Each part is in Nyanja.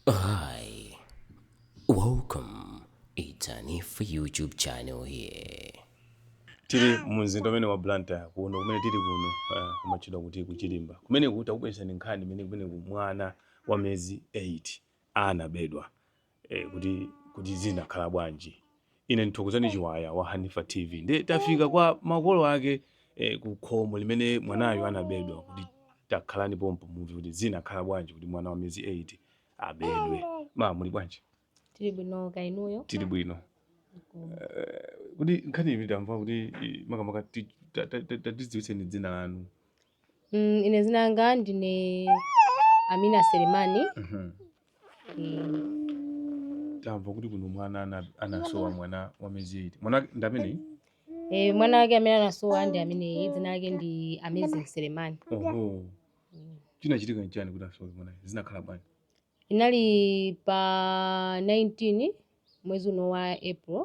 Hi, welcome. It's Hanifa YouTube channel here. tili mu mzinda umene wa blantyre kuno kumene tili kuno ah, kumatchedwa kuti kuchilimba kumene kuti takubweretserani nkhani imene kumeneku mwana wa miyezi 8 anabedwa eh, kuti kuti zinakhala bwanji Ine ndi Thokozani Chiwaya wa Hanifa TV nde tafika kwa makolo ake eh, ku khomo limene mwanayu anabedwa kuti takhalani pompo mumve kuti zinakhala bwanji kuti mwana wa miyezi 8 abedwe. Ma muli bwanji? tili bwino kaya inuyo Tili bwino. Kuti nkhani imene tamva kuti eh, makamaka ti- ta- ta- ta- tatidziwitseni dzina lanu. Mm, ine zina langa ndine Amina Selemani. Mhm. Mm. tamva kuti kuno mwana ana- anasowa mwana wa miyezi 8 mwana ndi amene E, mwana wake amene anasowa ndi ameneyi dzina lake ndi Amazing Selemani. oho Mm. chinachitika nchani kuti asowe mwana zinakhala bwanji Inali pa 19 mwezi uno wa April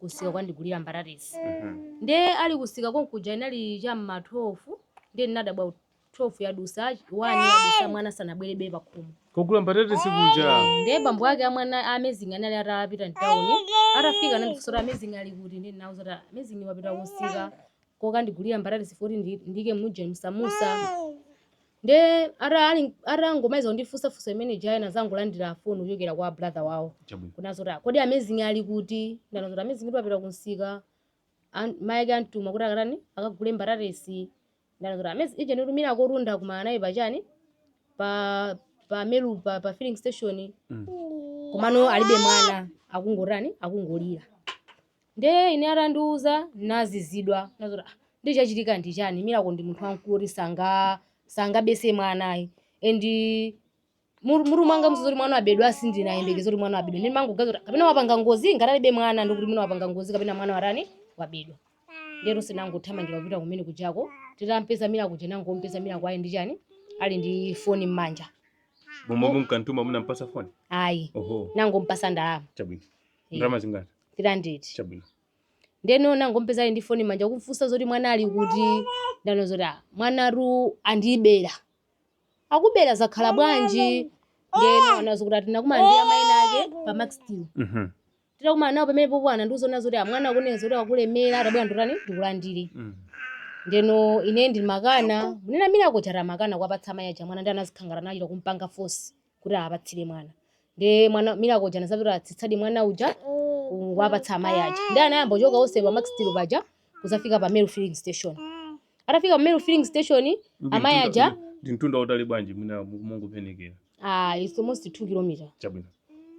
kunsika kukandigulira mbatatesi nde ali kunsika konkuja inali cha mma 12 nde ndinadabwa kuti 12 yadusa 1 yadusa mwana sanabwerebe pakhomo kogula mbatatesi kuja nde bambo ake amwana amazing anali atapita mtawuni atafika anandifunsa kuti amazing ali kuti ndi ndinauza kuti amazing wapita kunsika kokandigulira mbatatesi foti ndiike muja msamusa Nde ata ali atangomaliza kundifunsa funso imene ija anazangolandira phone kuchokera kwa brother wawo. Chabwino. Kunena zoti ah, kodi Amazing ali kuti? Ndinauza kuti Amazing kuti wapita kumsika. An- Mai ake antuma kuti akatani? Akagule mbatatesi. Ndinauza kuti Amazing uja nditu Miracletu ndakumana naye pachani? Pa pa Meru pa, pa filling station. Mm. Komano alibe mwana akungotani? Akungolira. Ndiye ine atandiuza ndinazizidwa ndinati kuti ah ndiye chachitika ndi chani miracle ndi munthu wamkulu oti sanga sangabese mwana ayi and mur- mutu mwangamuso zakuti mwana abedwa sindinayembekeza kuti mwana abedwa ndimangoganiza kuti kapena wapanga ngozi ngati alibe mwana ndikuti mwina wapanga ngozi kapena mwana watani wabedwa ndeno tinangothamangira kupita kumene kujako titampeza miracle uja nangompeza miracle ali ndi chani ali ndi foni m'manja momwe mumkantuma munampasa foni ayi oho nangompasa ndalama chabwino ndalama zingati 300 chabwino ndeno nangompeza ali ndi foni m'manja kumfunsa zoti mwana ali kuti ndano zoti "Ah, mwanatu andibera akubera zakhala bwanji ndeno anazo kuti ati nakumana ndi amayi ena ake pa Macsteel Mhm, titakumana nawo pamenepopo anandiuza kunena zoti ah mwana akunena zoti akulemera tabwera nditani ndikulandire mhm. ndeno ine ndimakana munena miracle uja atamakana kuwapatsa amayi aja mwana ndi anazikhangala anachita kumpanga fosi kuti awapatsire mwana ndi mwana milako uja anazabwera atsitsadi mwana uja kuwapatsa amayi aja ndiye anayamba kuchoka onse pa Max Steel paja kuzafika pa Meru filling station atafika pa Meru filling station amayi aja ndi mtunda utali bwanji mwina mungopenekera ah, it's almost 2 kilometer chabwino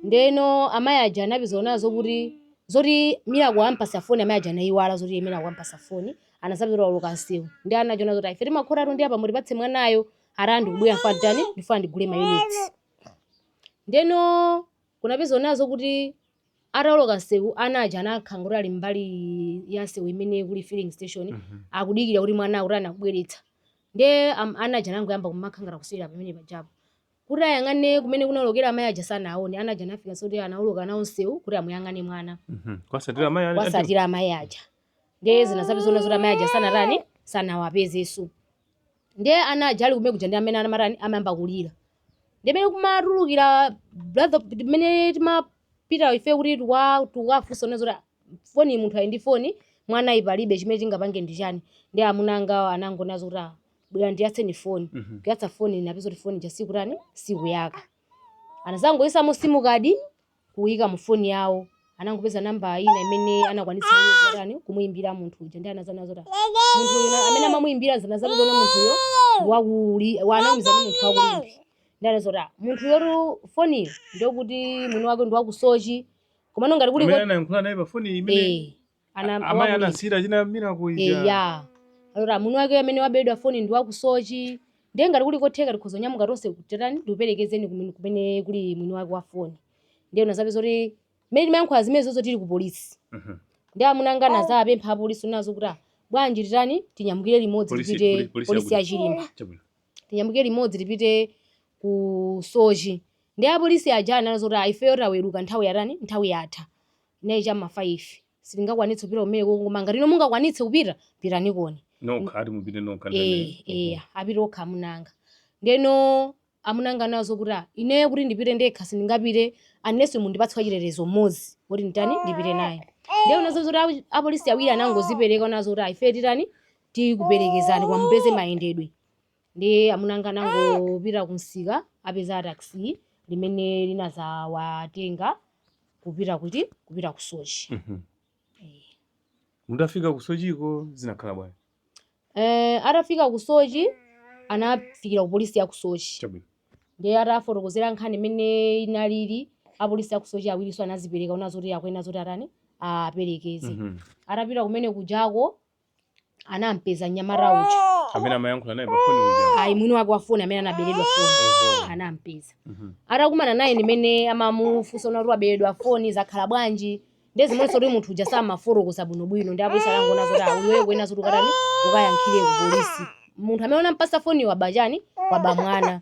ndeno amayi aja anapeza nazo kuti zoti milako ampasa foni amayi aja anayiwala zoti milako ampasa foni anazapita oloka nsewu ndiye anachona zoti ife timakhotera ndi apa mutipatse mwanayo ati ndikubwera ndifuna nditani ndifuna ndigule mayunitsi ndeno kunapeza ona zoti ataoloka msewu ana aja anakhala ngoti ali mbali ya msewu imene kuli filling station Mhm. akudikira kuti mwana kuti anakubweretsa nde am- ana aja anangoyamba kumakhalangala kusiyira pamene pajapo kuti ayang'ane kumene kunaolokera amayi aja sanaone ana aja anafika soti anaoloka nawo msewu kuti amuyang'ane mwana Mhm. kuwatsatira mayi ali- kuwatsatira amayi aja ndiye zinazapezeka ona zoti amayi aja sanatani sanawapezeso ndiye ana aja ali kumene kuja ndi amene amatani anayamba kulira ndiye mmene kumatulukira brother mmene timapita ife kuti tukwa- tukafunsa ona zoti foni munthu ali ndi foni mwana palibe chimene chingapange ndi chani ndiye amuna angawo anangoti ona zoti "Ah, bwera ndiyatse foni Mhm. kuyatsa foni napeza kuti foni ja sikutani sikuyaka anazangoyisamo simukadi kuika mu foni yawo anangopeza namba ina imene anakwanitsa kutani kumuimbira munthu uja ndiye anazaona zoti munthu uyu na- amene amamuimbira zinazapezeka ona munthuyo wakuli wanamiza ndi munthu waku Limbe ndiye ana zoti munthuyotu foniyo ndokuti mwini wake ndi waku Soche komano ngati kuli amene ko- anayankhula naye pa foni imene eh ana amayi wakulira. anasiyira China Milako ija eya alora mwini wake amene wabedwa foni ndi waku Soche ndiye ngati kuli kotheka tikhoza kunyamuka tonse kuti titani ndikuperekezeni kumene- kumene kuli mwini wake wa foni ndiye zinazapezeka zoti mmene timayankhula zimenezozo tili ku polisi Mhm. ndiye amuna anga anazapempha apolisi ona zoti "Ah, bwanji titani tinyamukire limodzi Polisi- tipite poli- polisi polisi ya yakuti? Chirimba Chabwino. tinyamukire limodzi tipite ku Soche ndiye apolisi aja anali zoti "Ah, ifeyo taweruka nthawi yatani nthawi yatha inali cha ma 5 sitingakwanitse kupita kumeneko koma ngati inu mungakwanitse kupita pitanikoni nokha ati mupite nokha eh eh mhm. apite okha amunanga ndeno amunanga ana zoti ah, ineyo kuti ndipite ndekha sindingapite unless mundipatse wachitetezo mmodzi woti nditani ndipite naye ndiye ona zoti apolisi awiri anangozipereka ona zoti ah ife titani tikuperekezani koma mupeze mayendedwe Ndiye amuna anga anangopita kumsika apeza taxi limene linazawatenga kupita kuti kupita ku Soche. Mm -hmm. Eh. Mutafika ku Socheko zinakhala bwanji? Eh, atafika ku Soche anafikira ku polisi ya ku Soche. Chabwino. Ndiye atafotokozera nkhani imene inalili apolisi ya ku Soche awirinso anazipereka ona zoti akuyenera zoti atani aperekeze. Mm -hmm. Atapita kumene kujako anampeza nyamata uja amene amayankhula naye pafoni uja ayi mwini wake wafoni amene anaberedwa foni anampeza mhm. atakumana naye ndimene amamufunsa unati waberedwa foni zakhala bwanji nde zimonso kuti munthu uja samafotokoza bwinobwino ndi apolisi anangoona zoti iweyo kunena zoti ukatani ukayankhire ku polisi munthu amene unampasa foni wabachani waba mwana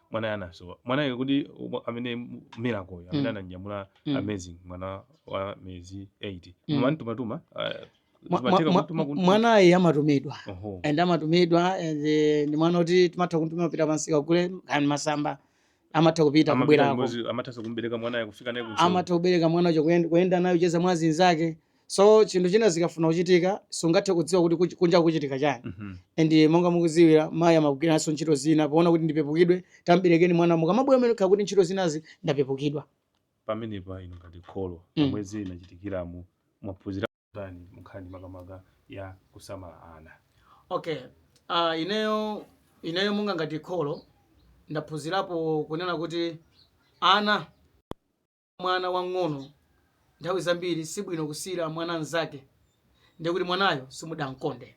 mwanayo anasowa mwanayo kuti umo- amene mu- miracle uyu, amene Mm. ananyamula Mm. amazing mwana wa miyezi 8 Mm. mumamtumatuma Mwa- mwa- zimatheka mwa- kumtuma kumtuma mwanayi amatumidwa oho and amatumidwa and eh, ndi mwana kuti timatha kumtuma kupita pansi kagule kani masamba amatha kupita Amapita kubwerako limodzi, amathanso kumbereka mwanayo kufika naye ku amatha kubereka mwana uja kuyenda- kuyenda naye kocheza mwa anzake so chinthu china zikafuna kuchitika sungathe kudziwa kuti kuch- kunja kuchitika chani Mhm. and monga mukuziwira mayi amagwiranso ntchito zina poona kuti ndipepukidwe tamberekeni mwana mukamabwera mmene kuti ntchito zinazi ndapepukidwa pamenepa inu ngati kholo Mm. mmene zinachitikiramu mwaphunzira kutani munkhani makamaka ya kusamala ana okay uh, ineyo ineyo monga ngati kholo ndaphunzirapo kunena kuti ana mwana wang'ono nthawi zambiri sibwino kusiyira mwana mnzake ndiye kuti mwanayo simudamkonde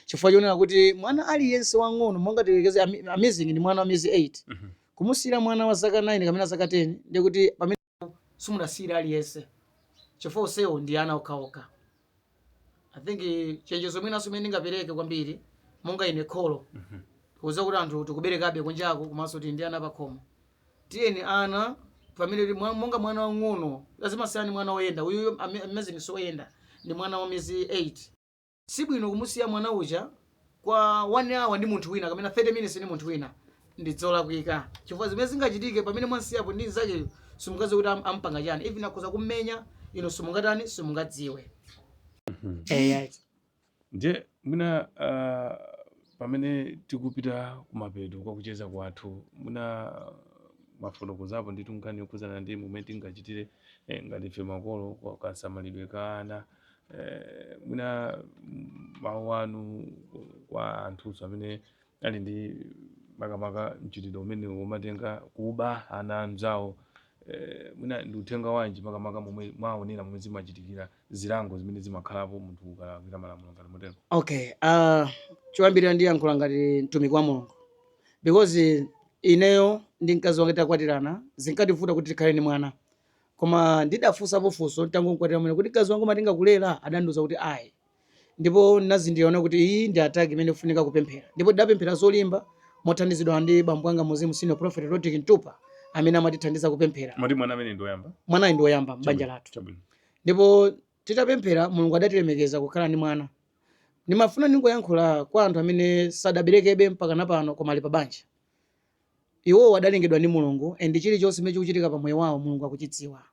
chifukwa chonena kuti mwana aliyense wang'ono monga tiyerekeze amazing ndi mwana wa miyezi 8 mm -hmm. kumusiyira mwana wa zaka 9 kapena zaka 10 ndiye kuti pamene simudasiyira aliyense chifukwa onsewo ndi ana okhaokha i think eh, chenjezo mwinanso imene ndingapereke kwambiri monga ine kholo kuuza kuti anthu tikuberekabe kunjako komanso tili ndi ana pakhomo tiyeni ana pamene tili- mwa- monga mwana wang'ono zimasiyana ndi mwana woyenda uyu amazing soyenda ndi mwana wa miyezi 8 sibwino kumusiya mwana uja kwa 1 hour ndi munthu wina kapena 30 minutes ndi munthu wina ndi zolakwika chifukwa zimene zingachitike pamene mwamsiyapo ndi nzakeyo simungadziwe kuti am- ampanga chani even akhoza kummenya inu simungatani simungadziwe eya ndiye mwina ah, pamene tikupita kumapeto kwa kucheza kwathu mwina mwafotokozapo ndithu nkhani yokhudzana ndi momwe tingachitire eh, ngati ife makolo kwa kasamalidwe ka ana eh, mwina mawu anu kwa anthunso amene ali ndi makamaka mchitidwe umene omatenga kuba ana anzawo eh, mwina ndi uthenga wanji makamaka momwe mwaonera momwe zimachitikira zilango zimene zimakhalapo munthu ukalakwira malamulo ngati motero okay uh, choyambirira ndiyankhula ngati mtumiki wa mulungu because ineyo ndi mkazi wanga takwatirana zinkativuta kuti tikhale ndi mwana Koma ndidafunsapo funso n'tangomkwatira kumene kuti mkazi wanga umatenga kulera? Adandiuza kuti ayi. Ndipo ndinazindikira kunena kuti iyi ndi attack imene ikufunika kupemphera. Ndipo tidapemphera zolimba mothandizidwa ndi bambo anga muuzimu Senior Prophet Rodrick Mtupa amene amatithandiza kupemphera. Moti mwana ameneyu ndi woyamba? Mwanayu ndi woyamba m'banja lathu. Chabwino, chabwino. Ndipo titapemphera Mulungu adatilemekeza kukhala ndi mwana. Ndimafuna ndingoyankhula kwa anthu amene sadaberekebe mpakana pano koma ali pabanja. Iwowo adalengedwa ndi Mulungu and chilichonse chimene chikuchitika pa moyo wawo Mulungu akuchidziwa.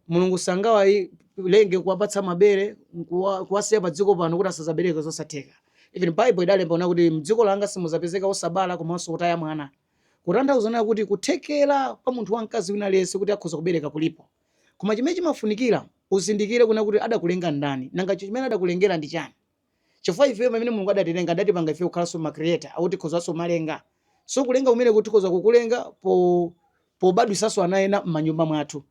Mulungu sangawalenge nkuwapatsa mabere nkuwa, kuwasiya pa dziko pano kuti asazabereke zosatheka. Even Bible idalemba kunena kuti mdziko langa simuzapezeka osabala komanso otaya mwana. Kutanthauza kunena kuti kuthekera kwa munthu wa mkazi wina aliyense kuti akhoza kubereka kulipo. Koma chimene chimafunikira uzindikire kunena kuti adakulenga ndani, nanga chimene adakulengera ndi chani. chifukwa ifeyo pamene mulungu adatilenga adatipanga ifeyo kukhalanso ma creator akuti tikhozanso kumalenga so kulenga kumeneku tikhoza kukulenga pobadwisanso ana ena m'manyumba mwathu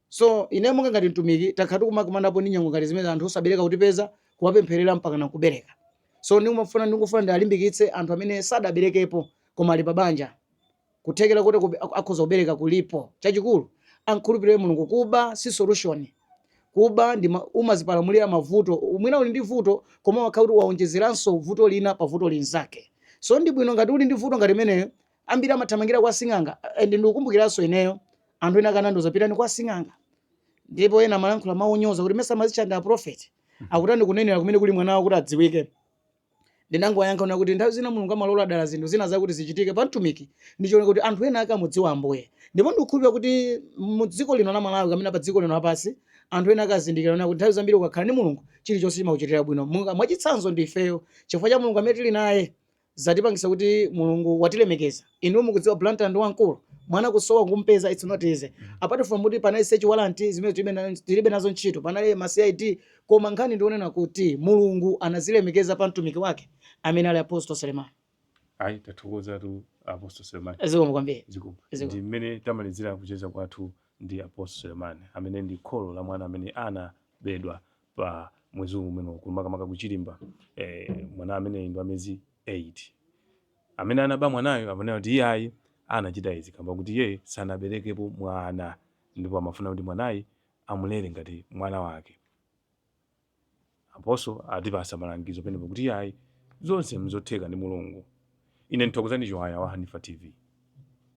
so ine monga ngati mtumiki takhala tikumakumanapo ndi nyengo ngati zimene anthu osabereka kutipeza kuwapempherera mpaka na kubereka so ndikufuna ndialimbikitse anthu amene sadaberekepo koma ali pa banja kuthekera kuti akhoza kubereka kulipo chachikulu ankhulupirire mulungu kuba si solution kuba umazipalamulira mavuto mwina uli ndi vuto koma wakhala kuti waonjezeranso vuto lina pa vuto linzake so ndi bwino ngati uli ndi vuto ngati imeneyo ambiri amathamangira kwa sing'anga and ndikukumbukiranso ineyo anthu ena ake anandiuza pitani kwa sing'anga ndipo ena amalankhula mawu onyoza kuti mesa mumazitcha ndi aprofeti akutani kunenera kumene kuli mwana wawo kuti adziwike Ndinangowayankha kunena kuti nthawi zina Mulungu amalola dala zinthu zina zakuti zichitike pa mtumiki ndi cholinga kuti anthu ena ake amudziwe Ambuye. Ndipo ndikukhulupirira kuti mu dziko lino la Malawi kapena pa dziko lino lapansi, anthu ena ake azindikira kunena kuti nthawi zambiri ukakhala ndi Mulungu, chilichonse chimakuchitira bwino. Monga mwachitsanzo ndi ifeyo, chifukwa cha Mulungu amene tili naye, zatipangitsa kuti Mulungu watilemekeza. Inu mukudziwa Blantyre ndi wamkulu, mwana kusowa kumpeza it's not easy. Apart from kuti panali search warrant zimene tilibe na, tilibe nazo ntchito, panali ma CID koma nkhani ndi yonena kuti Mulungu anazilemekeza pa mtumiki wake amene ali Apostle Selemani. Ayi tathokozatu Apostle Selemani. Zikomo kwambiri. Zikomo. Zikomo. Ndi mmene tamalizira kucheza kwathu ndi Apostle Selemani amene ndi kholo la mwana amene anabedwa pa mwezi umeneu makamaka ku Chirimba eh, mwana amene ndi wa miyezi 8 amene anaba mwanayo amanena kuti iyayi anachita izi kamba kuti iye sanaberekepo mwana ndipo amafuna kuti mwanayu amulere ngati mwana wake apostle atipasa malangizo ponena kuti iyayi zonse mzotheka ndi mulungu ine ndi thokozani chiwaya wa hanifa tv